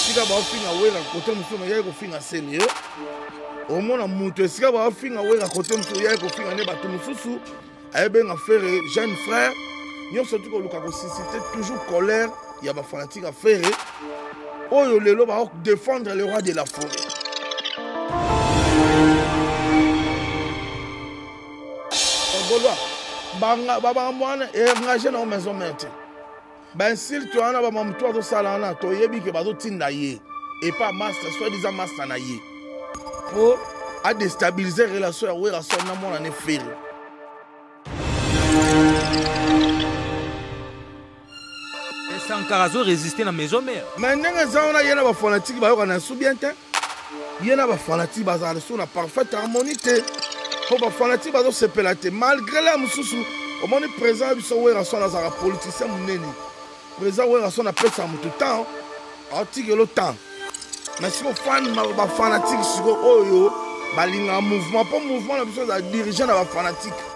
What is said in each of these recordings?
esika baofinga wera kote mosusu oyaki kofinga seni eh? omona moto esika baofinga wera kote mosusu oyaki kofinga nde bato mosusu ayebenga fere jeune frère nyonso ti koluka kosisite toujours colère ya bafanatique ya fere oyo lelo baodefendre le roi de la forêt golois babanga mwana engage na o maison mère te ba insulte wana ba mamutu azosala wana toyebi ke bazotinda ye epa master soit disant master na ye po adestabilise relation ya werrason na mwana ne feri sankara azoresiste na maison mare mai ndenge eza wana ye na bafanatike bayokana ya su bien te ye na bafanatike bazala lisusu na parfaite harmonie te mpo bafanatike bazosepela te malgré la mosusu omoni président ya biso werrason azalaka politicien monene président werrason apesaka moto temps atikelo temps mais siko fan bafanatike siko oyo balingaka mouvement mpo mouvement na biso ezala dirige na bafanatike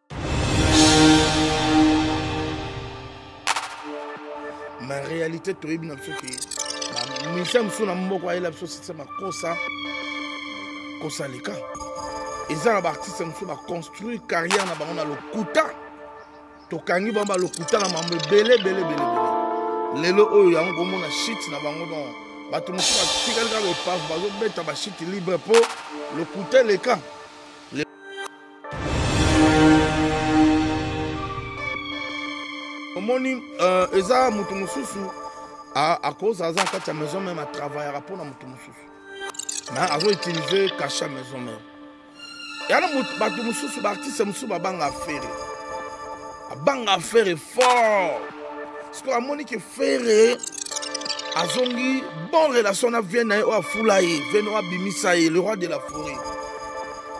na réalité toyebi na biso ke misa mosusu na moko ayela biso sese makosa kosa leka eza na baartiste mosusu baconstruire carrière na bango na lokuta tokangi bango balokuta na mambo ebele ebele ebele lelo oyo yango komona shit na bango don bato mosusu batikali kaka epave bazobeta bashit libre mpo lokuta eleka omoni uh, eza moto mosusu akoza aza na kati ya maison meme atravayaka mpo na moto mosusu me azo utilize kashe ya maison meme yana bato mosusu baartiste mosusu babanga afere abanga afere fort sikoyo amoni ke fere azongi bon relation na vie na ye oyo afula ye vie na oyo abimisa ye le roi de la foret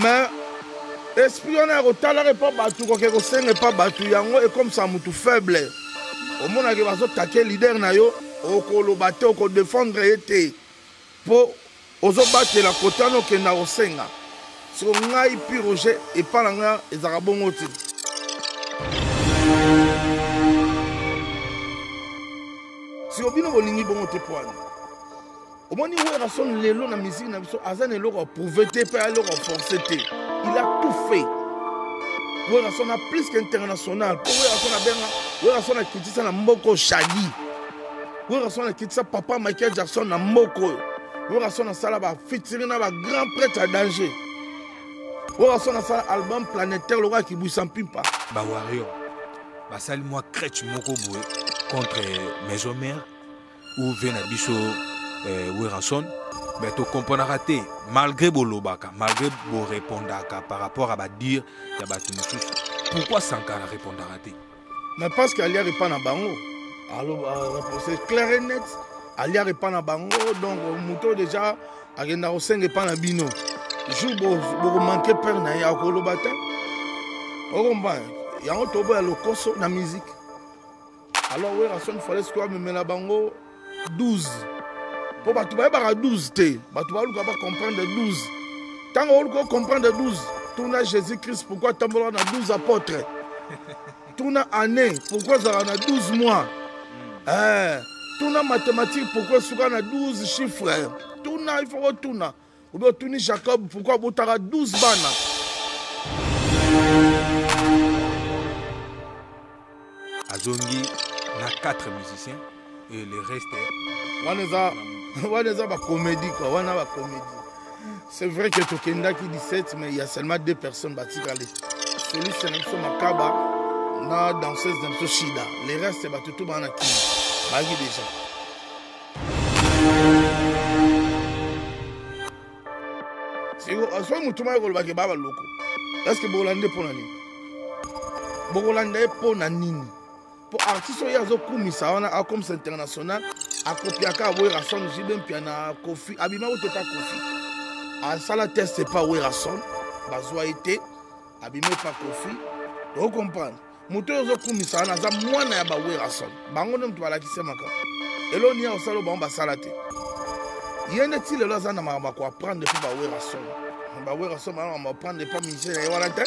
mais esprit wana ya kotalaka epa bato koke kosenga epa bato yango ekomisa motu faible omonake bazotake lider na yo okoloba te okodefendre ye te mpo ozobatela kota na okenda kosenga soko ngai pi roger epa na ngai ezalaka bongo te siko bino bolingi bongo te poani omoni werrason lelo na musique na biso aza na eloko ya prouve te mpe eloko ya force te il a tout fait werrason a plus qu'international mpo werrason abenga werrason akitisa na mboko shadi werrason akitisa papa michael jackson na mboko oyo werrason asala bafitiri na bagrand prêtre ya danger werrason asala album planétaire lokola kibwisa mpimpa bawario basali mwa crèche moko boye contre maison mère uv na biso eh, werrason me tokomponaka te malgré bolobaka malgré borepondaka par rapport à badire ya bato mosusu pourquoi sankara repondaka te mais parce que aliaka epa na bango reponse euh, clair et net aliaka epa na bango donc moto déjà akenda kosenga epa na bino jour bokomanke pere na ye akoloba te okomba yango toboya lokoso na musique alors werrason fale sikoyo amemela bango 12 mpo bato bayebaka 12 te bato baluka bacomprendre 12 ntango oluka ocomprendre 12 tuna jésus christ pourkui atambolaka na 12 apôtre tuna année pourkui azalaka na 12 mois eh, tuna mathématique pourkui esuka na 12 chiffre tuna il faut kotuna oh, obe otuni jacob pourkui abotaka 12 bana azongi na 4 musicien et le reste wana eza wana eza bacomédie kua wana bacomédie c'est vrai que tokendaki 17 mais il y a seulement deux personnes batikali soliste na biso makaba na danseuse na biso shida le reste bato to bana na kini bayaki déjà soki motu mai kolobaki baba loko eske bokolanda mpo na nini bokolanda ye mpo na nini mpo artiste oyo azokumisa wana akomisa international akopiaka aboyera son jibe mpia na kofi abima kote pa kofi asala test epa werason bazwa ye te abima epa kofi okomprendre moto oyo ozokumisa wana aza mwana ya bawerason bango nde moto balakisi makambo elo niya osala bango basala te ye nde ti lelo aza na makambo akoaprendre mpo bawerason bawerason bana makambo aprendre mpo musicien na ye wana te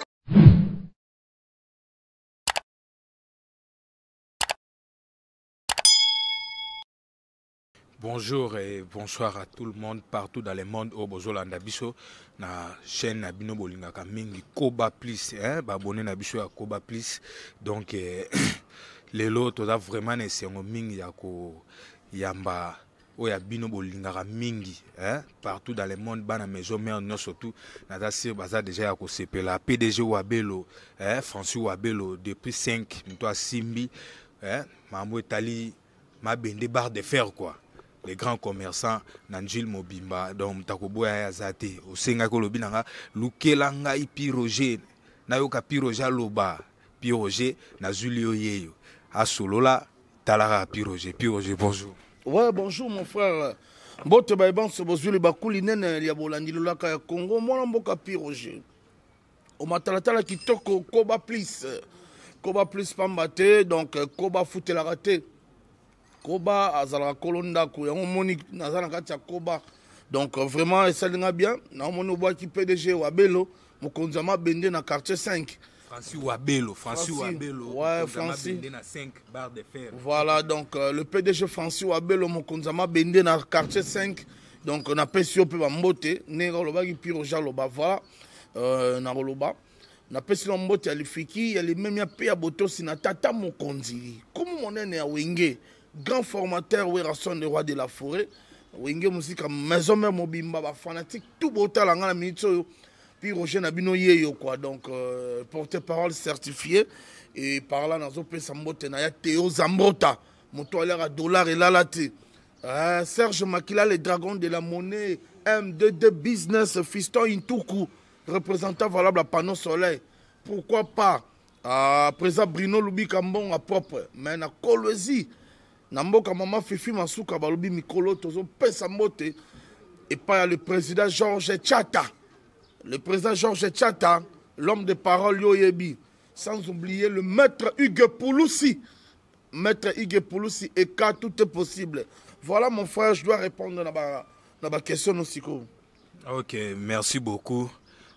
Bonjour et bonsoir à tout le monde partout dans le monde au bozolanda biso na chaîne na bino bolingaka mingi Koba Plus hein babone na biso ya Koba Plus donc eh, lelo toza vraiment na esengo mingi ya koyamba oyo ya bino bolingaka mingi hein? partout dans le monde bana maison mare nyonso tout naza sire baza deja ya kosepela pdg wabelo hein? francis wabelo depuis 5 moto asimbi hein? makambo etali mabende barre de fer quoi les grands commerçants na njile mobimba donc moto akoboya ye aza te osengaki olobi na nga lukela ngai pi roger nayoka pi roger aloba pi roger nazwili yo yeyo asolola talaka pi roger pi roger bonjour ouais bonjour mon frère mbote baye banso bozwili bakuli nene lya bolandi lolaka ya congo mwana mboka pi roger omatalatala kitoko koba plus koba plus pamba te donc euh, koba afutelaka te koba azalaka kolo ndako yango omoni naza na kati ya koba donc euh, vraiment esali nga bien naomoni obwaki pdg wabelo mokonzi ya mabende na quartier 5 Francis Wabelo, Francis Wabelo, ouais, Francis. na 5 barre de fer. Voilà, donc euh, le PDG Francis Wabelo Mokonzama Bende na quartier 5. Donc on a pesio pe ba mbote, ne olobaki pire jaloba voilà. euh, nakoloba napesi na mbote ya lifiki ya limemia mpe ya botosi na tata mokonzi kumu monene ya wenge grand formateur werason le roi de la forêt wenge mosika maison mare mobimba bafanatique tout botala ngai na minute oyo puis roger na bino yeyo quoi donc euh, porte parole certifié e par là nazopesa mbote na ya teo zambota moto aliaka dollar elala te Uh, Serge Makila, le dragon de la monnaie, M22 Business, Fiston Intuku, représentant valable à Panneau Soleil. Pourquoi pas uh, Président Bruno Loubi Kambon à propre, mais na Kolwezi, na mboka mama Fifi Masuka, balobi mikolo, tozo pesa mbote, et pas le président Georges Tchata. Le président Georges Tchata, l'homme de parole Yoyebi, sans oublier le maître Hugues Pouloussi. Maître Ige Pulusi et cas tout est possible. Voilà mon frère, je dois répondre à ba na ba question no sikoyo. Ok, merci beaucoup.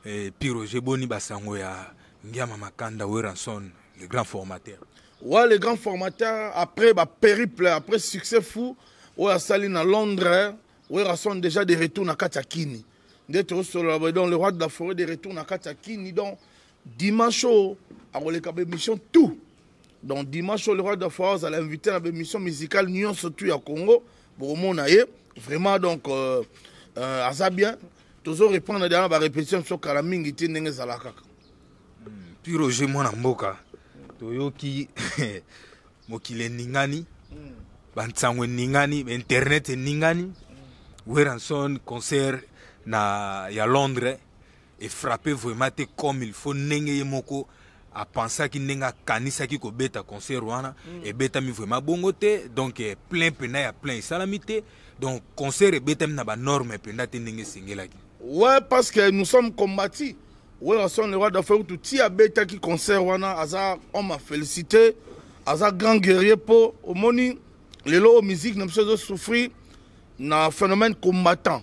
Et puis Roger Boni Basango ya Ngiama Makanda Weranson, le grand formateur. Ouais, le grand formateur après ba périple, après succès fou, oyo asali na Londres, Weranson déjà de retour na kati ya Kini. Nde tosolola donc le roi de la forêt de retour na kati ya Kini donc dimanche oyo akoleka baémission tout donc dimanche oyo le roi de fois azala invité na baémission musicale nyonso tout ya congo bokomona ye vraiment donc euh, euh, aza bien tozo reprendre deja na barépétition biso kala mingi te ndenge ezala kaka puis roger mwana mboka toyoki mokili eningani mm. bansango eningani internet eningani mm. weranson concert na ya londres e frappe vraiment te comme il faut ndenge ye moko apensaki ndenge akanisaki kobeta concert wana mm. ebetami vraiment bongo te donc eh, plein mpenda ya plein esalami te donc concert ebetami na banorme mpenda te ndenge esengelaki ouais parce que nous sommes combati werrason le roi d'affaire kutu ti abetaki concert wana aza homme a félicité aza grand guerrier mpo omoni lelo oyo musique na biso ezosouffrir na phénomène combattant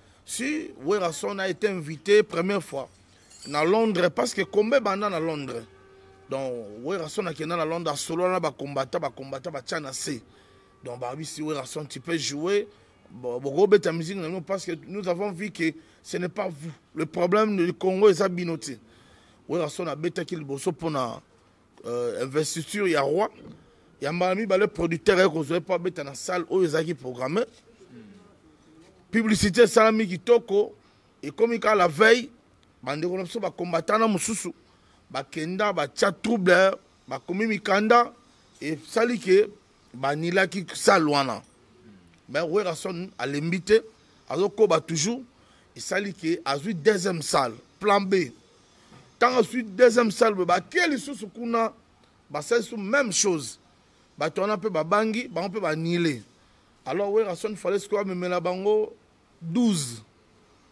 si werrason a été invité première fois na londres parce que combat ebanda na londres donc werrason akenda na londres asolola na bacombata bacombata batya na se donc babi si werrason tu peux jouer bokobeta musique na bino parce que nous avons vu que ce n'est pas vous le problème du congo eza bino te werrason abetaki liboso mpona euh, investiture ya roi ya mbala mibale producteur aye kozwa ye mpo abeta na salle oyo ezalaki programme publicité esalami kitoko ekomi kaka la veille bandeko na biso bakombatana mosusu bakenda batya trouble bakomi mikanda esali ke banilaki salle wana me werrason alembi te azokoba toujours esali ke azwi deuxième salle plan b ntango asui deuxième salve bakie lisusu kuna basali su même chose bato wana mpe babangi bango mpe banile alors werason fale sikoyo amemela bango 12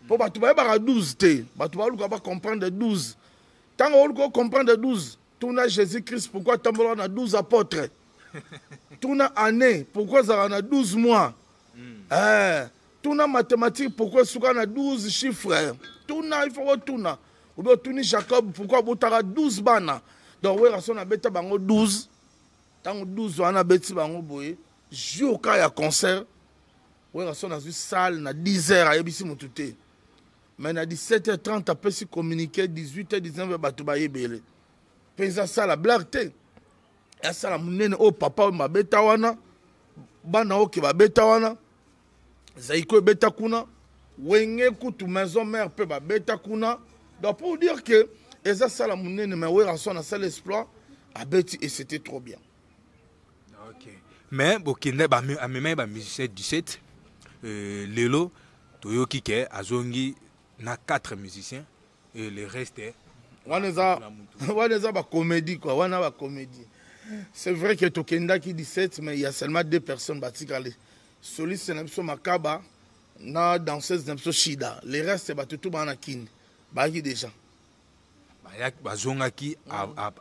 mpo bato bayebaka 12 te bato baluka bacomprendre 12 ntango oluka ocomprendre 12 tuna jésus christ pourkui atambolaka na 12 apôtre tuna année pourkui azalaka na 12 mois mm. eh, tuna mathématique pourquoi esuka na 12 chiffre tuna ifo kotuna obe otuni jacob pourquoi abotaka 12 bana donc werrason abeta bango 12 ntango 12 wana abeti bango boye jour ka ya concert werrason azwi salle na 10 heures ayebisi motu te mais na 17 h 30 apesi communiqué 18 h 19 h bato bayebele mpe eza sala blague te asala monene oyo papa oyo babeta wana bana oyo ke babeta wana zaiko ebeta kuna wenge kutu maison mère mpe babeta kuna donc pour dire que eza sala monene mais werrason asala exploit abeti et c'était trop bien okay. mais bokende amemaki bamusicien 17 euh, lelo toyoki ke azongi na 4 musiciens et le reste eh, wana eza wana eza bacomédie quoi wana bacomédie c'est vrai que tokendaki 17 mais il y a seulement deux personnes batikali soliste na biso makaba na danseuse na biso shida le reste bato tu baa na kini bayaki déjà bazongaki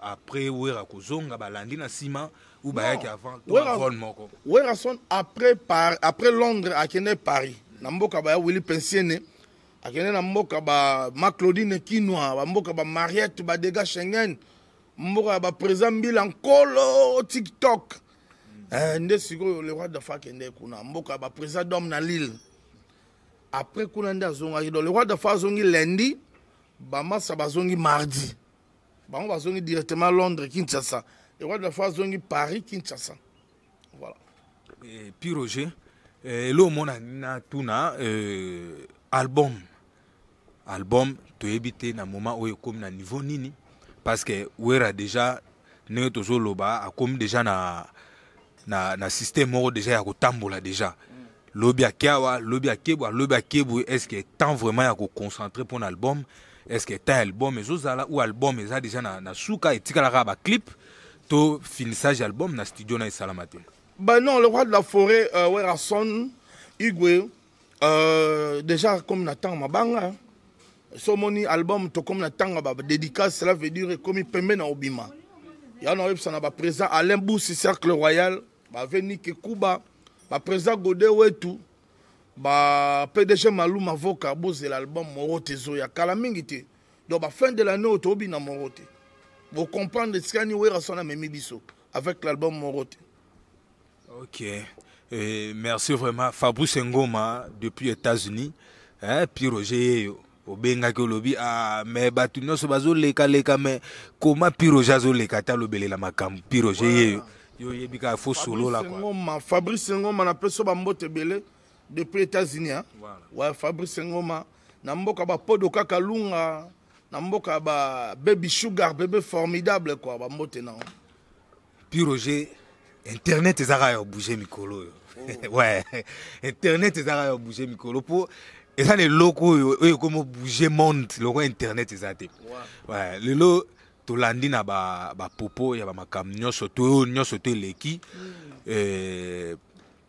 après wera kozonga balandi na nsima ou bayaki avant vol moko werason après, par, après londres akende paris na mboka baya willi pensiene akende na mboka ba ma claudine kinwa bamboka ba mariette badega schengen mboka ya baprésident mbila nkolo tiktok eh, nde sikoyo le roi dafa akende kuna mboka baprésident dome na lille après kuna nde azongaki donc le roi dafa azongi lundi bamasa bazongi mardi bango bazongi directement londres kinshasa le roi dafa azongi paris kinshasa voilà eh, pi roger eh, elo omona na tuna eh, album album toyebi te na moment oyo ekomi na niveau nini parce que wera déjà ndenge tozoloba akomi déjà na, na, na système moko déjà ya kotambola déjà lobi ake awa lobi akebu alobi akebu est ce que temps vraiment ya koconcentre mpo na album est ce que temps ya album ezozala ou album eza déjà na, na suka etikalaka baclip to finissage album na studio na esalama te banon le roi de la forêt uh, werason igwe Euh, déjà comme na ntango mabanga hein. so omoni album tokomi na ntango ya badédicace cela veut dire ekomi pembe na obima ya na oyebisa na baprésident alain busi cercle royal bave nike kuba baprésident gode wetu ba pdg malou mavoka bozela album moro te ezoya kala mingi te donc bafin de l'année oyo tobina moro te bocomprendre esikani werasona amemi biso avec l'album moro te Ok. Et merci vraiment. Fabrice Ngoma depuis États-Unis. Hein, puis Roger yo. obengaki olobi ah, mais bato nyonso bazolekaleka mais koma piroge azoleka ata alobelela makambo piroge ye yo yo oyebi kaka fo solola ngoma fabrice ngoma napesi yo bambote ebele depuis états-unis hein? voilà. ouais, fabrice ngoma na mboka bapodo kaka lunga na mboka ba baby sugar bebe formidable kua bambote nango Puis Roger, internet ezaka ya bouger mikolo oyo. Oh. ouais, internet ezaka ya bouger mikolo po eza na eloko oyo oyo ekomi bouger monde loko internet eza te. Ouais, lelo tolandi na ba ba popo ya ba makambo nyonso to nyonso to eleki. Mm. Euh,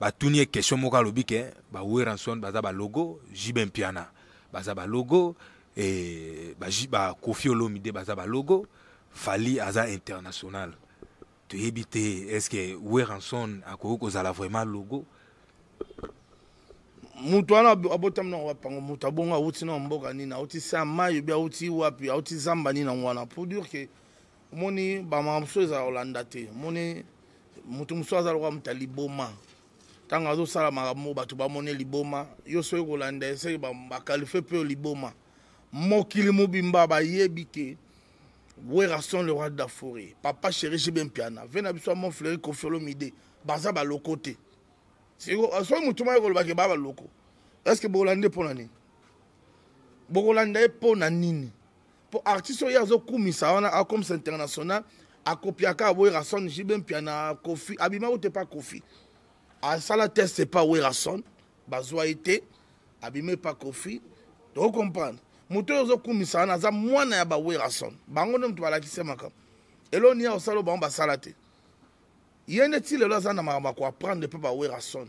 batuni ye question moko alobi ke ba Werrason baza ba logo JB Mpiana baza ba logo et ba, ba Koffi Olomide baza ba logo Fally aza international toyebi te est-ce que Werrason akoki kozala vraiment logo moto wana abotami nango bapango moto abongo awuti na mboka nini awuti sa mayo bi awuti wapi awuti zamba nini yango wana pour dire ke omoni bamaka mosusu ezala kolanda te omoni moto mosusu aza lokola moto ya liboma ntango azosala makambo bato bamoni liboma yo soki kolanda eseki bakalifie mpe liboma mokili mobimba bayebi ke werrason le roi de la forêt papa chéri jibe mpiana ve na biso ya mont fleuri kofiolo mide baza baloko te soki motu moko koloba ke baa baloko estce bokolanda ye mpo na nini bokolanda ye mpo na nini po artiste oyo azo kumisa wana akomisa international akopiaka aboyaka son jibe mpia na kofi abima ute pa kofi asala test epa werason bazwa ye te abimi epa kofi tokokomprendre moto oyo ozokumisa wana aza mwana ya bawerason bango nde moto balakisi ye makambo eloo niya osala bango basala te ye nde ti lelo aza na makambo ya koaprendre mpe bawerason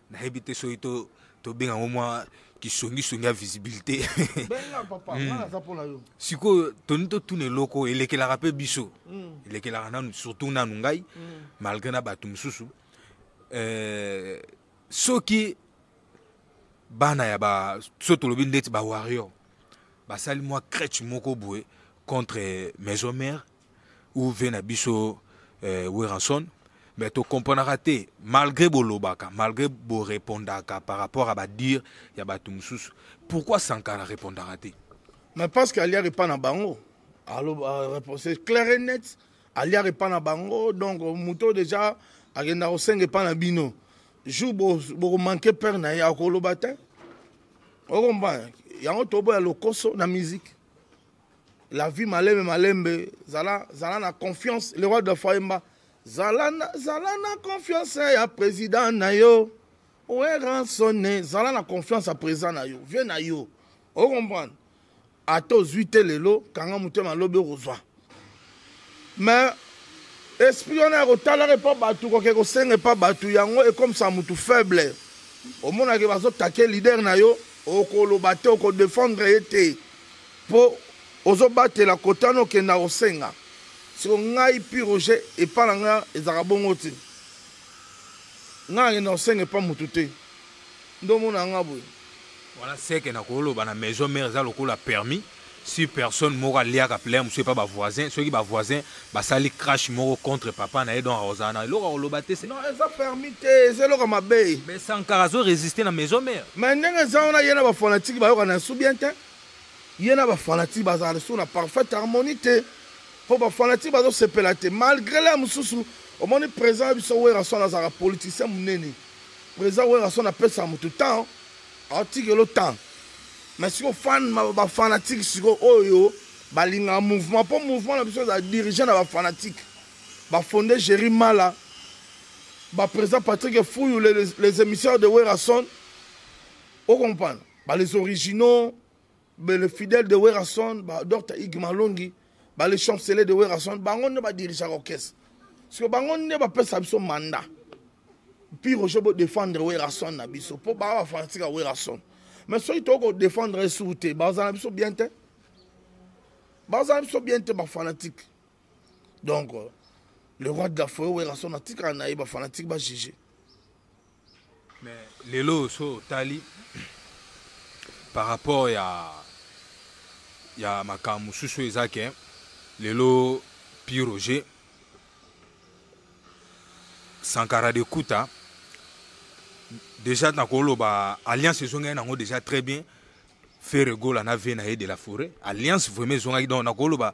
nayebi te soki to tobenga yango mwa kisongisongi ya visibilité hmm. sikoyo toni totuna eloko elekelaka mpe biso hmm. elekelaka nanu surtout nanu ngai hmm. malgré na bato mosusu eh, soki bana ya ba so tolobi ndeti ba warrior basali mwa crèche moko boye contre maison mère ou ve na biso euh, Weranson mais to comprenaka te malgré bolobaka malgré borepondaka par rapport à badire ya bato mosusu pourquoi sankara repondaka te mais parce que aliaka epa na bango c'est clair et net aliaka epa na bango donc moto déjà akenda kosenga epa na bino jour bokomanke père na ye akoloba te okomprendre yango toboya lokoso na musique la vie malembe malembe zala zala na confiance le roi de fayemba zala na, zala na confiance ya président na yo weransone zala na confiance ya président na yo vie na yo ocomprendre ata ozwi te lelo kanga motema lobi okozwa mais esprit wana ya kotalaka epa bato koke kosenga epa bato yango ekomisa motu faible omonake bazotake lider na yo okoloba te okodefendre ye te mpo ozobatela kote wana okenda kosenga siko ngai pi roger epa na ngai ezalaka bongo te ngai nakenda kosenga epa motu te Nde omona nga boye. Wana seke na koloba na maison mère eza lokola permis si personne moko aliaka plein mosusu epa bavoisin soki bavoisin basali crash moko contre papa na ye donc akozala na eloko akoloba te non eza permis te eza eloko mabe mais sankara azoresiste na maison mère mais ndenge eza wana ye na bafanatike bayokana ya su bien te ye na bafanatike bazala lisusu na parfaite harmonie te mpo bafanatike bazosepela te malgré le mosusu omoni président ya biso weraswana azalaka politicien monene Président Werrason apesa mutu temps, atikelo temps. Mais siko fan ba fanatique siko oyo balinga mouvement po mouvement na biso eza dirigé na ba fanatique. Ba fondé Jerry Mala, ba président Patrick Fouillou les, les, les émissaires de Werrason. Au comprendre? Ba les originaux le fidèle de werrason dr ig malongi bale chancele de werrason bango nde badirigaka orchestre parceke bango nde bapesa biso mandat pi roger bodefendre werrason na biso mpo baa bafanatika werrason mais soki tokoki kodefendre ye sur te bazala na biso bien te bazala na biso bien te bafanatike donc euh, le roi de la foyer werrason atikala na ye bafanatike bajuge mais lelo oyo so otali par rapport ya ya makambo mosusu oyo eza ke lelo pi roger sankara de kuta déjà nakoloba alliance ezongaki nango déjà très bien ferre gola na ve na ye de la forêt alliance vraiment ezongaki donc nakoloba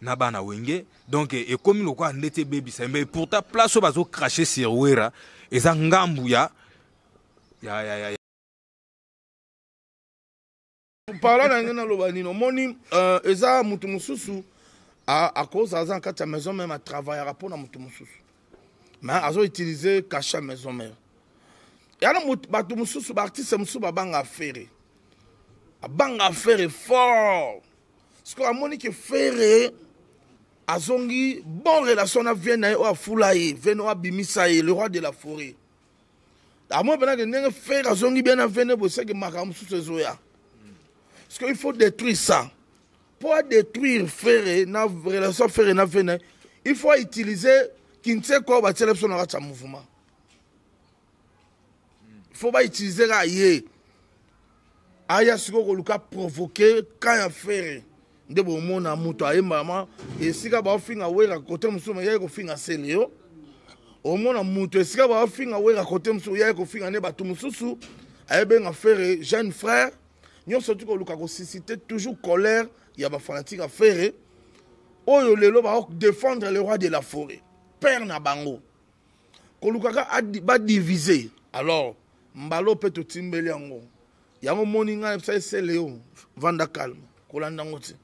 na bana wenge donc ekomi lokola ndeti ebebisa mais pourtant place oyo bazo crache sur wera eza ngambu ya ya ya, ya. parla na yango naloba nini omoni euh, eza motu mosusu akoza aza na kati ya maison meme atravaillaka mpo na motu mosusu me azo utilise cache ya maison meme yana bato mosusu baartiste mosusu babanga afere abanga afere fort siko amoni ke fere azongi bon relation na vie na ye oyo afula ye vene oyo abimisa ye le roi de la forêt amoni mpena ke ndenge fere azongi bien na vene boseke makambo mosusu ezoya parce que il faut détruire ça mpo adétruire fere na relation fere na vene il faut autiliser kinseko oyo batiela biso na kati ya mouvement fo ba utiliser ka ye aya sikoyo koluka provoke kan ya fere nde bomona moto ayembama esika baofinga wera kote mosusu yaki kofinga seleo omona moto esika baofinga wera kote mosusu yaki kofinga nde bato mosusu ayebenga fere jeune frère nyonso ti koluka kosisite toujours colère ya bafanatike ya fere oyo lelo baodefendre le roi de la forêt père na bango kolukaka badivise alors mbalo mpe totimbeli yango yango moni ngai ebisaki sele yo vanda calme kolanda yango te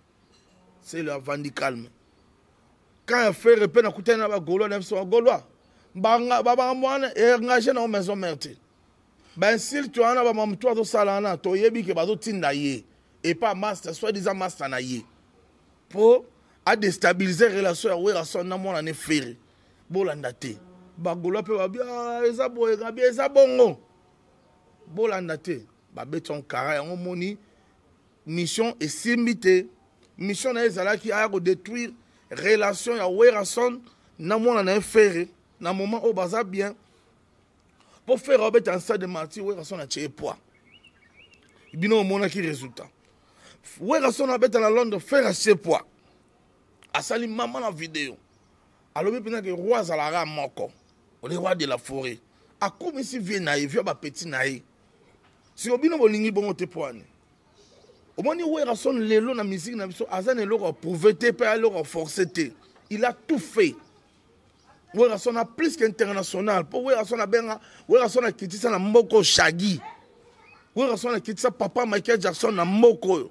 sele avandi calme kan ya fere mpe nakutani na bagolois na biso bagolois babanga mwana engage na yo maison mare te bainsulte wana bamamutu azosala wana toyebi ke bazotinda ye epa master soit disant master na ye mpo adestabilize relation ya werrason na mwana ne fere bolanda te bagolois mpe babi ah, eza boye gabi eza bongo bolanda te babeti onkara yango omoni mission esimbi te mission na ye ezalaki aya kodétruire relation ya werrason na mwana na ye ferre na moment oyo baza bien mpo ferre abeta na stade de martyr werrason atye ye poids bino omonaki résultat werrason abeta na londres ferre atye poids asali mama na video alobi mpena ke roi azalaka moko ole roi de la forêt akumisi vie na ye vie ya bapeti na ye siko bino bolingi bongo te mpo ani omoni werrason lelo na miziki na biso aza na eloko ya prouve te mpe eloko ya force te il a tout fait werrason a plus qu'international mpo werrason abenga werrason akitisa na mboko shagi werrason akitisa papa michael jackson na mboko oyo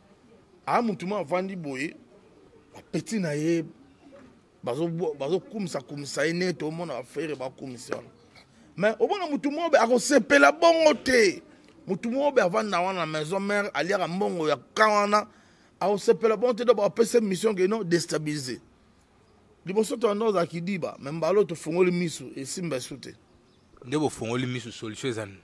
aa motu mo avandi boye bapeti na ye bazokumisa kumisa ye nete omona bafere bakumisa wana mais omona motu mobe akosepela bongo te motu mobe avanda wana na maison mare aliaka mbongo ya ka wana akosepela bongo te do bapesa mission ke non destabilise liboso toyanda ozala kidiba me mbalo tofungoli miso esimba esu te nde bofongoli misu solution eza nini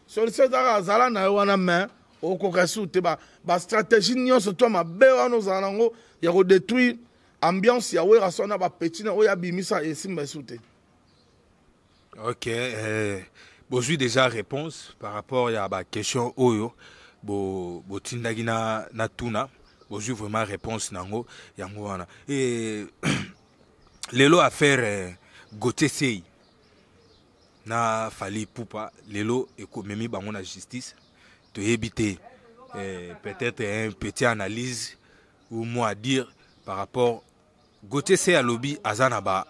solution ezaka azala na yo wana mais okoka su te bastratégie ba nyonso to mabe wana ozala na yango ya kodétruire ambiance ya wera so na bapeti na oyo abimisa esimba esu te ok eh, bozwi déjà réponse par rapport ya baquestion oyo botindaki bo na, na tuna bozwi vraiment réponse na yango yango wana e, lelo affaire eh, gautier sei na fali pupa lelo ekomemi bango na justice toyebi te eh, peut-être un petit analyse ou moi à dire par rapport gautier se alobi aza na ba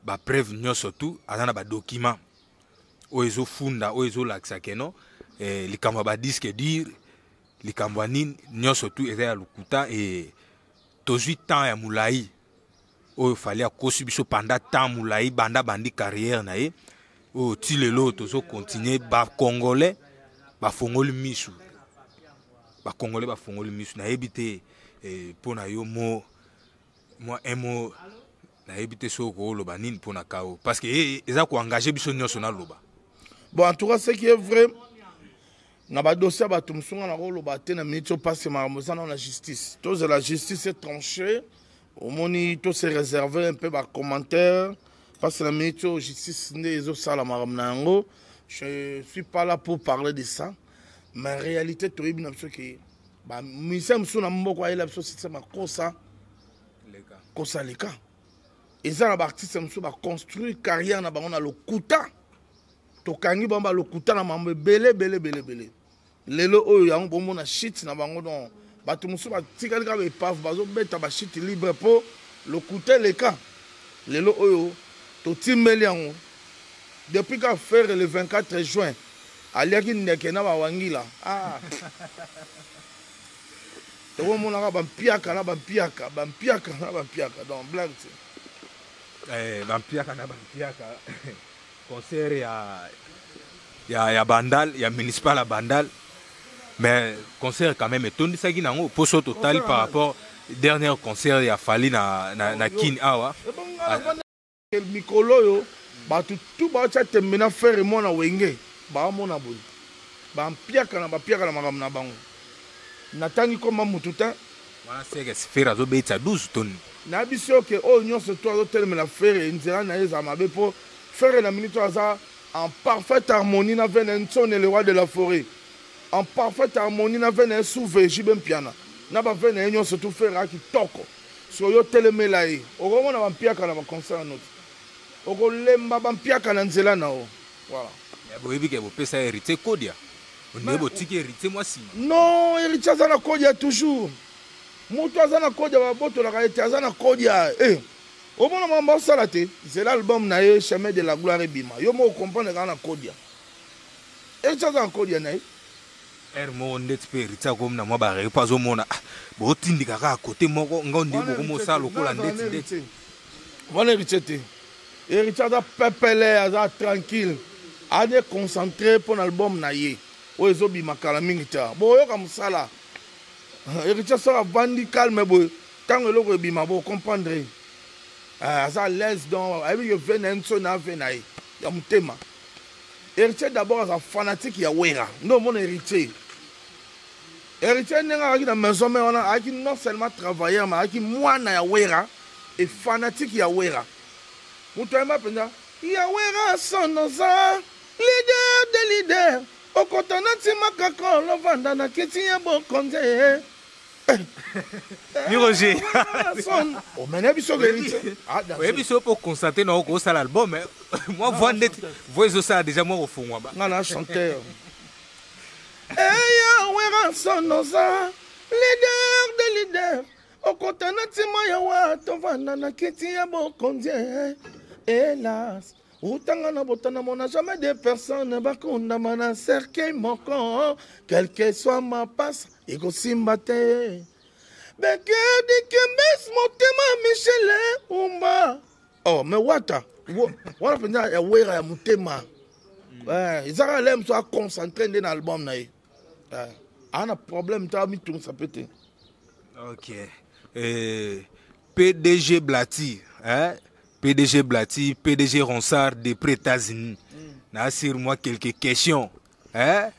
bapreuve nyonso tout aza na badocument oyo ezofunda oyo ezolakisa keno eh, likambo ya badisque dire likambo ya nini nyonso tout eza ya lokuta e tozwi temps ya molai oyo fali akosi biso panda temps molai banda bandi carrière na ye oyo ti lelo tozo continue bacongolais bafongoli misu bacongolais bafongoli misu nayebi te eh, mpo na yo mo mwa un mot nayebi te soki okoloba nini mpo na kao parce que eh, eh, eza koengage biso nyonso naloba bon en tout cas ce qui est vrai na badosi ya bato mosunga nakoloba te na miniti oyo mpasi makambo eza nao na justice tozela justice etranche omoni to se réserver un peu ba commentaire parce na minute oyo justice nde ezosala makambo na yango je suis pas là pour parler de ça mais réalité toyebi na biso ke bamusicien mosusu na mboko ayela biso site makosa kosa leka eza na baartiste mosusu baconstruire carrière na bango na lokuta tokangi bango balokuta na mambo ebele ebele ebele ebele lelo oyo yango bomona shit na bango don bato mosusu batikali kaka baepave bazobeta bashit libre mpo lokuta eleka lelo oyo totimbeli yango depuis ka ferre le 24 juin aliaki ndeke na bawangila ah. tokomonaka bampiaka na bampiaka bampiaka na bampiaka donc blague te eh, bampiaka na bampiaka concert ya ya ya bandal ya municipal ya bandal mais concert quand même etondisaki nango mpo so totali par rapport dernier concert ya fali na, na, na kin awa mikolo oyo bato tu baotya tembe na fere mwana wenge baamona boye bampiakana bapiakana makambo na bango natangi koma motu te wana seke fere azobetisa 12 toni na biso oke oyo nyonso to azotelemela fere nzela na ye ezala mabe mpo Ferre na minute aza en parfaite harmonie na vene nsone le roi de la forêt en parfaite harmonie na vene suve jibe mpiana na bave na ye nyonso tu ferre a kitoko siko yo telemela ye okomona bampiaka na baconcert yanoti okolemba bampiaka na nzela na yo voilà eh, boyebi ke bopesa héritier kodia onde botiki héritier mwa nsima non héritier aza na kodia toujours moto aza na kodia babotolaka ete aza na kodia eh. Omona makambo asala te, zela album na ye chemin de la gloire ebima, yo moko comprendre kaka na kodia. Eti aza na kodia na ye. Heure moko ndeti pe Rita akomi na mwa ba reo pa azomona ah, botindika kaka kote moko ngo nde bokomosala lokola ndeti ndeti. Wana Rita te. Rita aza pepele, aza tranquille. Ade concentré mpo na album na ye oyo ezobima kala mingi te boyoka mosala héritier soki avandi calme boye Tango eloko ebima bo comprendre. Ah, aza à l'aise donc ayebi que vie na ye nso na vie na ye ya motema. Héritier d'abord aza fanatique ya Wera. Nde omona héritier. Héritier ndenge ayaki na maison mère wana ayaki non seulement travailleur mais ayaki mwana ya Wera et fanatique ya Wera. Moto ayemba mpenza ya Wera son oza leader de leader okota na ntima kaka olovanda na kiti ya bokonzi ni roger omene biso oyebi so mpo constate na oko osala album eh. mwa voi ndeti voi ezosala deja mwa kofungwa ba nga na chanteur eya eh, werason oza leader de leader okota na ntima ya wa tovanda na kiti ya bokonzi eh. helas otanga na botana mona jamais de personne bakondama na cercueil moko quelque soit mapasa ekosimba te bekedi kembes motema michele umba oh me wata wana mpenza ya wera ya motema hmm. eh, ezaka le mosu aconcentre nde na album na ye eh, ana problème ta mitungisa mpe te ok eh, pdg blati eh? pdg blati pdg ronsard de près états-unis mm. na sur moi quelques questions eh?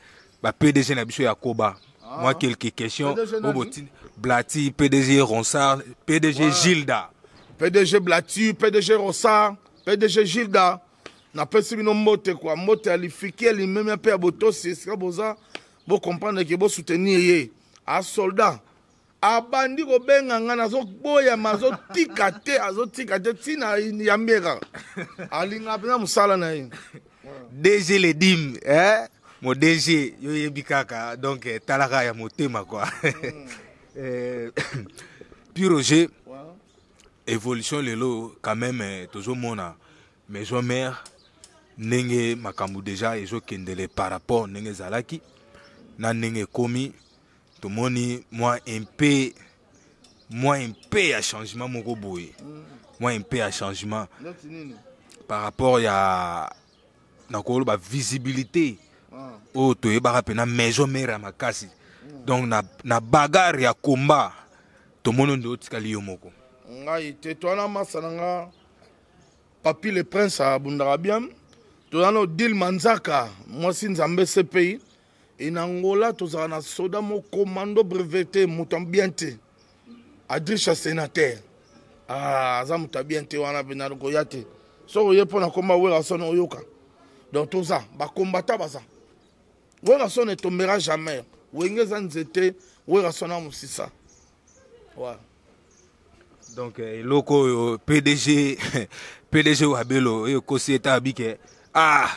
ba pdg na biso ya koba ah. moi quelques questions obotini blati pdg ronsard pdg ouais. gilda pdg blati pdg ronsard pdg gilda napesi bino mbote kwa mbote ya lifiki ya limemia mpe ya botosi esika boza bocomprendre ke bosoutenir ye asoldat abandi kobenga ngai nazoboyama azotika te azotika te ntina yambi ye kaka alingaka mpenza mosala na ye dg ledim eh? mo dg yo yebi kaka donc eh, talaka ya motema kua hmm. eh, pure roger evolution lelo quand même eh, tozomona maison mère ndenge makambo deja ezokendele par rapport ndenge ezalaki na ndenge ekomi tomoni mwa mpe mwa mpe ya changement moko boye mwa mpe ya changement par rapport ya nakoloba visibilité ah. oyo toyebaka mpe na maison mare ya makasi hmm. donc na, na bagare ya combat tomoni onde otikali yo moko ngai te towana masa na nga papi le prince abundaka bien toza na odile manzaka mwasi nzambe cpi e na angola tozala na soda mo commando brevete moto ya bien te adrisha sénateur ah, aza moto ya bien te wana mpe nakoya te soki oye mpo na komba werrason oyoka donc toza bakombata baza werrason etombera jamais wenge eza nzete werrason na mosisa ouais. donc eh, eloko oyo pdg pdg wabelo oyo ekosi ete abike ah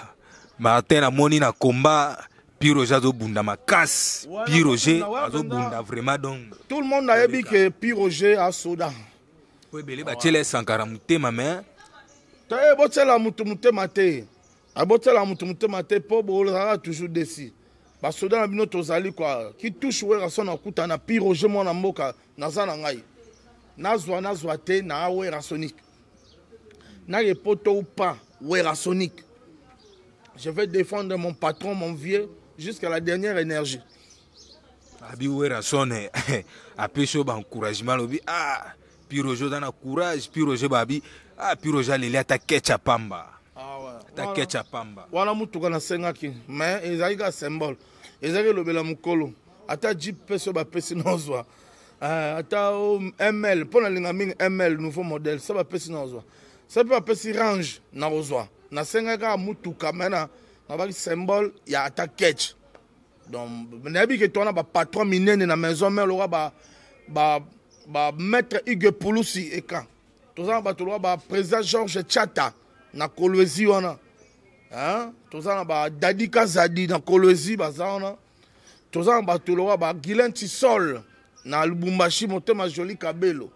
martin amoni na combat Pierre Roger azobunda makasi Pierre Roger azobunda vraiment donc tout le monde ayebi que Pierre Roger asoda po ebele batyela ye sankara motema me te botyela motu motema te abotyela motu motema te mpo bozalaka toujours desi basoda na bino tozali kua kitouche werrason akuta na Pierre Roger mwana mboka naza na ngai nazwa nazwa te na werasonic naye poto ou pas werasonic je vais défendre mon patron mon vieux jusqu'à la dernière énergie abi werason apesi yo baencouragement alobi ah piroge oza na courage piroge babi ah piroge aleli ata kecha pamba ah, ata kecha pamba wana motuka nasengaki mais ezalaki kaka symbole ezalaki elobela mokolo ata jeep pe so bapesi na ozwa eh, ata ml mpo nalinga mingi ml nouveau modèle so bapesi na ozwa so mpe bapesi range na kozwa nasengaki kaka motuka me na nabaki symbole ya ata ketch donc nayebi ke twana bapatron minene na maison mare lokola ba, ba, ba maître hugue pulusi ekan toza na bato lokola ba président georges chata na kolwezi wana toza na badadi kazadi na kolwezi baza wana toza na bato lokola ba guilin tisol na lubumbashi motema joli kabelo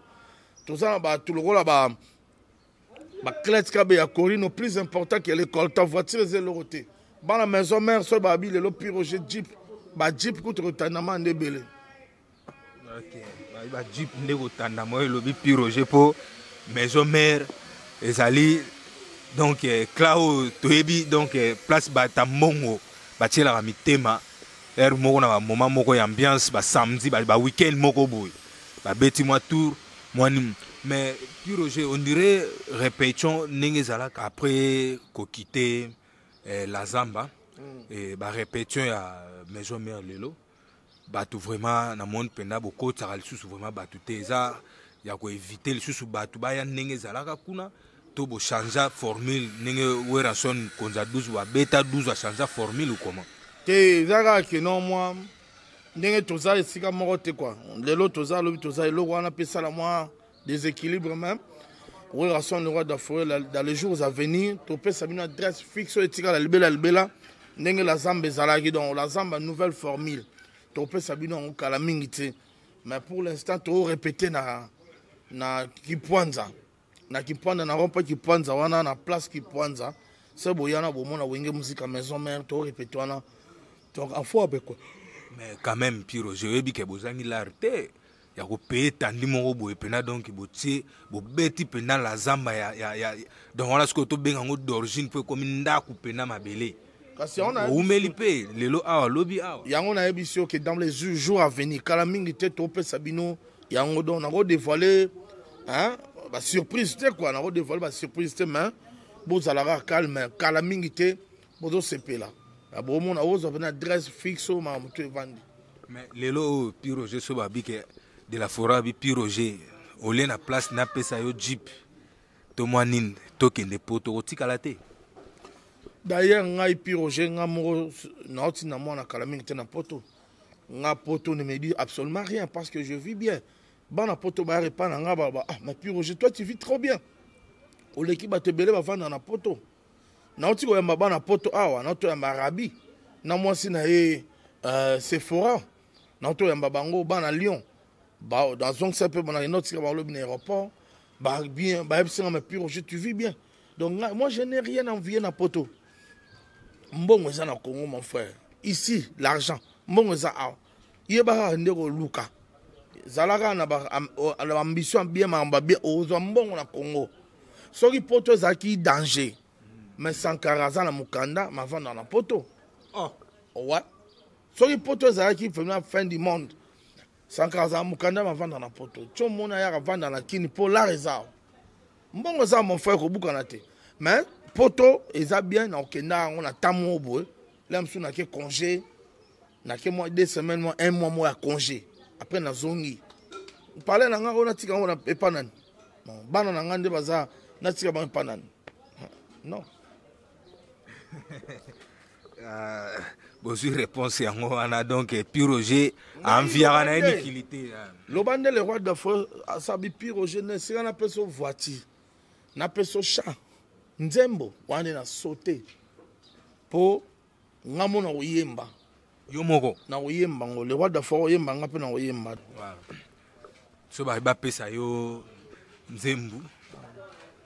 toza na bato lokola ba baclete kabe ya corino plus important ke lecolta voiture eza eloko te bana maison mare soki babi lelo piroge jeep bajeep kutu kotanama nde ebele ba jeep nde kotanda moyo elobi pi roger mpo maison mare ezali donc eh, cla oyo toyebi donc eh, place bata mbongo batielaka mitema heure moko na bamoma moko ya ambiance basamedi baweekend ba moko boye babeti mwa tour mwa nini mais pi roger on dirait repetition ndenge ezalaka après kokite eh, la zamba mm. eh, barepetition ya maison mare lelo bato vraiment na monde mpenza bokotisaka lisusu vraiment bato te eza ya koevite lisusu bato baya ndenge ezalaka kuna to bochangea formule ndenge werrason konza 12 babeta 12 achangea formule ou comment te eza kaka keno mwa ndenge toza esika moko te kua lelo toza lobi toza eloko wana mpe esala mwa deséquilibre même werrason le roi de la forêt dans les jours à venir topesa bino adresse fixe oyo etikala libela libela ndenge la zamba ezalaki donc la zamba nouvelle formule topesa bino yango kala mingi te mais pour l'instant torépéte na na kipwanza na kipwanza na rompa kipwanza wana na place kipwanza se boya na bomona wenge mosika maison mare torépéte wana donc afo abekwa mais quand même piro joyebi ke bozangi lare te ya kopeye etandi moko boye mpena donk botie bobeti mpena la zamba ya, ya, ya donc wana sikoyo tobenga yango d'origine mpo ekomi ndako mpena mabele kasi oumeli mpe lelo awa lobi awa yango nayebisi yo ke dans les jours à venir kala mingi te topesa bino yango donc nakodevoile basurprise te kua nakodevoile basurprise te mais bozalaka calme kala mingi te bozosepela na bomona ozwa mpena adresse fixe oyo maka motu evandi mais lelo oyo pi roger so babike de la fora abi pi roger olie na place napesa yo jeep to mwa nini tokende po tokotikala te d'ailleurs ngai pi roger ngai moko nauti na mwana kala mingi te na poto nga poto ne me dit absolument rien parce que je vis bien bana poto bayaka epai na ngai baloba ah ma pure je toi tu vis trop bien oleki bato ebele bavanda na poto nauti koyamba bana poto awa nauti koyamba arabi na mwasi na ye uh, sephora nauti koyamba bango bana lyon nazongisa mpe bana enotika balobi na aéroport bien bayebisi nga mapire oje tu vis bien donc nga, moi je n'ai rien envie na poto mbongo eza na congo mon frère ici l'argent mbongo eza awa yeba kaka nde koluka zala kaka na baambition bien makambo ya bien okozwa mbongo na congo soki poto ezalaki danger mais sankara aza na mokanda mavanda na poto oh. ouais. soki poto ezalaki vraiment fin du monde sankara azala mokanda mavanda na poto tio mona yaka avanda na kini mpo lar eza mbongo eza mon frère kobukana te mais poto eza bien na okenda yango na ntango moko boye la mosusu nake congé nake mwa deux semaines mwa un mois moko ya congé après nazongi pale na ngai oyo natika yango na epa nani bana na ngai nde baza natika bango epa nani non euh, bozwi réponse yango wana donc euh, piroger enviaka na ye mikili te euh. loba nde le roi de fo asabi piroger na esika napesa voiture napesa champ nzembo wana na saute mpo nga mona koyemba yo moko na koyemba ngo le roi dafa oyemba nga mpe na koyemba so bapesa yo nzembu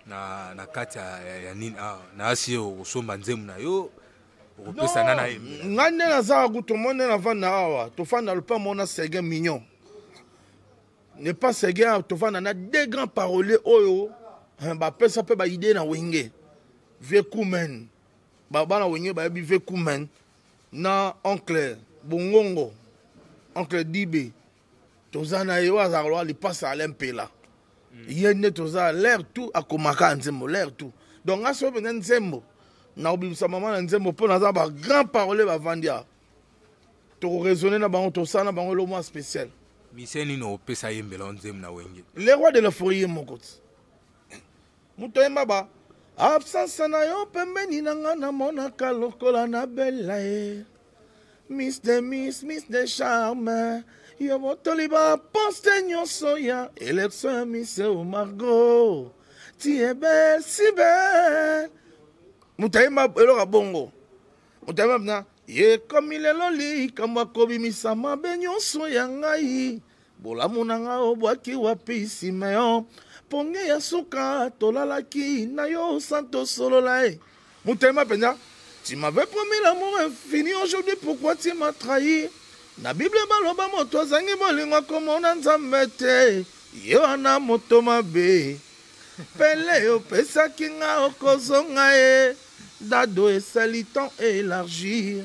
na, na kati ya, ya, ya nini ah, na asi yo okosomba nzembu na yo okopesa na naye ngai nde nazaka kutu moi nde navanda awa tofanda lopa mona sergin mignon ne pas sergin tofanda na deux grands parolier oyo bapesa mpe baidee na wenge vieux kumen ba bana wenge bayebi ve kumen na oncle bongongo oncle dibe toza na ye oyo azalaka loa lipasa ale mpela mm. ye nde toza l'air tout akomaka nzembo l'air tout donc nga soki mpenza nzembo nakobimisa mama na nzembo mpo naza bagrand parole bavandi awa tokoraisonne na bango tosala na bango elo mwa spécial mise nini opesa ye mbela nzembo na wenge le roi de la forie ye moko ti moto ayemba ba absence na yo pembeni na nga namonaka lokola na bela ye miss de miss miss de charme yo botoli baposte nyonso ya elektio ya miss omargo tiebe sibe moto ayemba eloko ya bongo moto ayemba mna ekomi lelo likambo akobimisama be nyonso ya ngai Bolamu na nga obwaki wapi Simeon ponge ya suka tolalaki na yo santo solola e motema mpenza tu m'avais promis l'amour infini aujourd'hui pourquoi tu m'as trahi na bible baloba moto azangi bolingo akomona nzambe te ye wana moto mabe pele opesaki nga okozonga ye dado esali temps elargir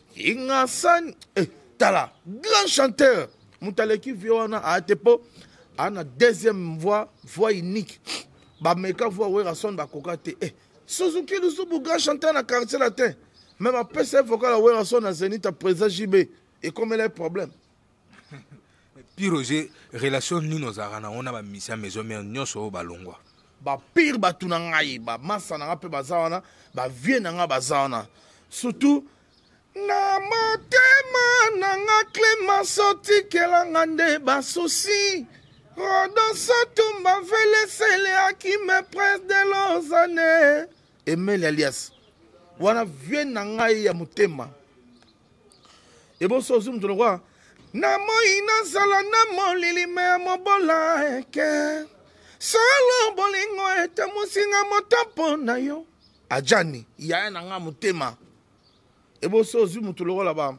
ingasani eh, tala grand chanteur moto aleki vie wana aate mpo ana deuxième voix voix unique bameka voix werason bakoka te eh, suzuki lusubu grand chanteur na quartier latin meme apesa ye vocal ya werason na zenita président jb ekomela ye problème Puis Roger, relation nini ozalaka nango na bamisia maison mère nyonso oyo balongwa bapire bato na ngai bamasa na ngai mpe baza wana bavie na ngai baza wana surtout na motema na nga clemence otikelanga nde basusi rodoso tumba velesele akime prince de lozane emeli alias wana vie na ngai ya motema eboso ozwi moto lokola na moi nazala na molilima ya mobola eke solo bolingo ete mosinga moto mpo na yo ajani yaya na nga motema eboso ozwi moto lokola ba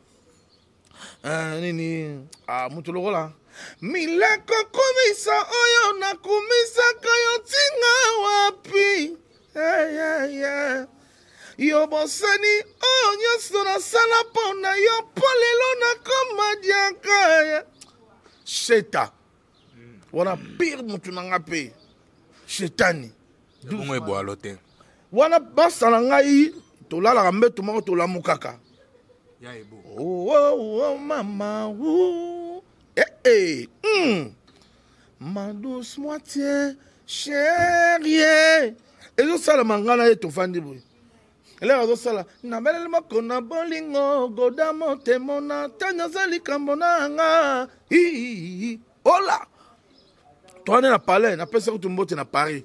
uh, nini uh, moto lokola mileko kumisa oyo nakumisaka yo ntinga wapi hey, eh, eh, hey, eh. hey. yo bosani oyo nyonso nasala mpo na yo mpo lelo nakoma diaka sheta wana pire motu na nga mpe shetani bongo ebwalo te wana basala ngai tolalaka mbeto moko tolamukaka oh, oh, oh, mama ee eh, eh, hmm. ma douce moitié cherie ezosalama ngai na ye tofandi boye elere azosala nabeleli moko na bolingo goda motemo na ntango aza likambo na nga ola toane na palais napesa kutu mbote na paris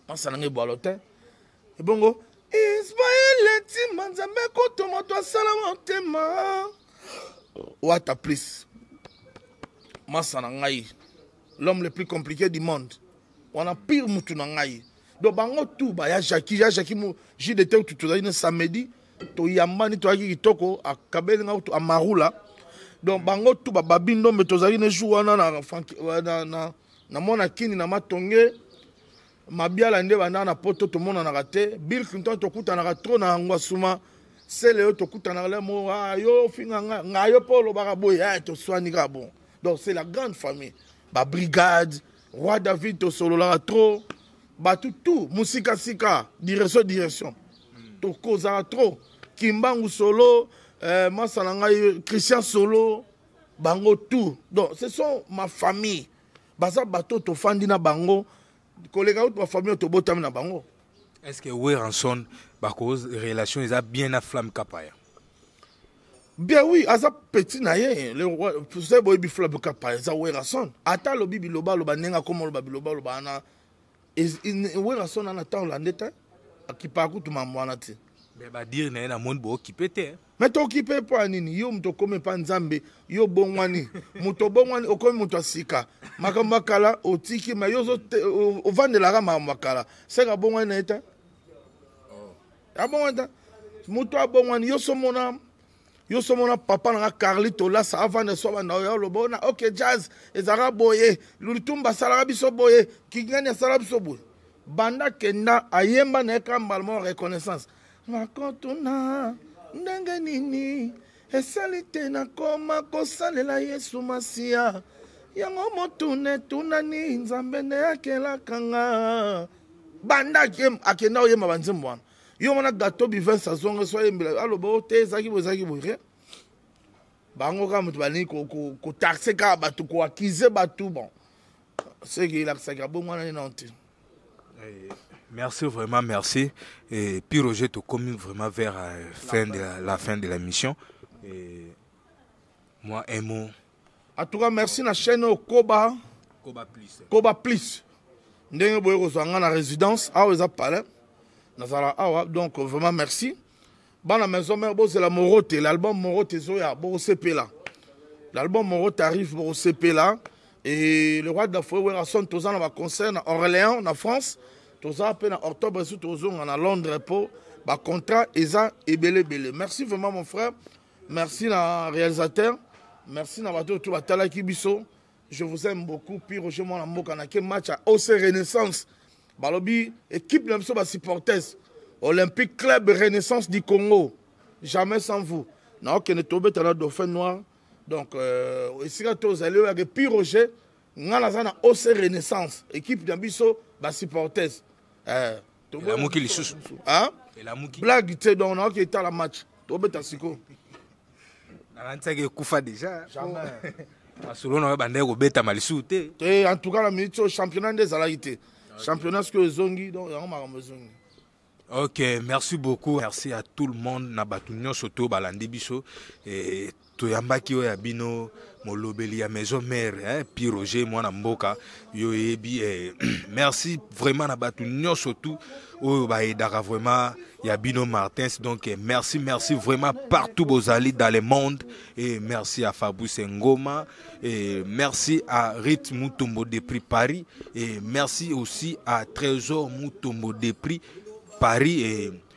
ansa na ngai bwalo te ebongo ismaele ntima nzambe kutu moto asala motema wata plus masa na ngai l'homme le plus compliqué du monde wana pire mutu na ngai donc bango tu baya jaki ya jaki mu ji de te tozali na samedi toyambani toyaki kitoko akabeli ngai kutu amarula donc bango tu bababi ndombe tozali na jour wana na, na, na, na mwana kini na matonge mabiala nde bandaka na poto tomonanaka te bill clinton tokutanaka tro na ngwasuma sele yo tokutanaka le mo ah, yo ofinga nga nga yo mpe olobaka boye eh, toswani kaka bon donc c'est la grande famille babrigade roi david tosololaka tro bato tout mosikasika direction direction tokozala trop kimbangu solo euh, masa na ngai christian solo bango tout donc ce sont ma famille baza bato oyo tofandi na bango koleka utu bafamille oyo tobotami na bango est ce que weranson bakoz relation eza bien na flamme kapaya bien oui aza petit na ye boyebi flamme kapaya eza weranson ata alobi biloba aloba ndenge akoma oloba biloba oloba wana werrason ana ntango lande te akipaka kutu mambo wana te me badire na ye namoni bookipe te me tokipe mpo ya nini yo moto okomi epa nzambe yo obongwani moto obongwani okomi moto ya sika makambo ya kala otiki me yo ovandelaka makambo ya kala seka abongwani na ye te oh. abongwani te moto abongwani yo somona yo so mona papa na nga carli tolasa avanda so banda oyo aloba ona ok jazz ezalaka boye lulitumba asalaka biso boye kingani asalaka biso boye banda kenda ayemba na ye kaka mbala moko reconnaissance nakotuna ndenge nini esali te nakoma kosalela yesu masiya yango motuna etunani nzambe nde akelaka nga banda akenda oyemba banzembo wana yo mona gato bivens azonga so ayembela aloba o oh, te ezalaki boye ezalaki boye rien bango kaka moto balingi kotaxe kaka bato koakize bato bon seke elakisaki abongo wana nini nte eh, Merci vraiment, merci. Et puis Roger, tu commis vraiment vers la euh, fin de la, la fin de la mission. Et moi, un mot. en tout cas merci na chaîne oyo koba koba plus koba plus ndenge boye kozwa nga na résidence awa eza palais nazala awa donc vraiment merci bana maison mère bozela morote l'album morote ezoya bokosepela l'album morote arrive bokosepela et le roi de la foye werrason toza na baconcert na orléans na france toza mpe na octobre esu tozonga na londres mpo bacontrat eza ebele ebele merci vraiment mon frère merci na réalisateur merci na bato oyo to batalaki biso je vous aime beaucoup pi roger mwana mboka na ke match ya oc renaissance balobi équipe na biso basupporters olympique club renaissance du congo jamais sans vous naokende tobeta na dauphin noir donc euh, esika tozali oyo yake pi roger ngai naza na oc renaissance équipe na biso basupporters euh, elamuki lisusu ah? elamuki blague te donc nayoki etala match tobeta siko nakanisaki ekufa deja masolo na yo bandaki kobetama lisusu te te en tout cas na minute oyo championnat nde ezalaki te championnat sikoyo ezongi donc yango makambo ezongi ok merci beaucoup merci à tout le monde na bato nyonso to balandi biso toyambaki oyo ya bino molobeli ya maison mère hein, pi roger mwana mboka yo eyebi eh, merci vraiment na bato nyonso tout oyo baedaka vraiment ya bino martins donc eh, merci merci vraiment partout bozali dans le monde et merci à fabrice ngoma et merci à rit mutombo de prix paris et merci aussi à trésor mutombo de prix paris et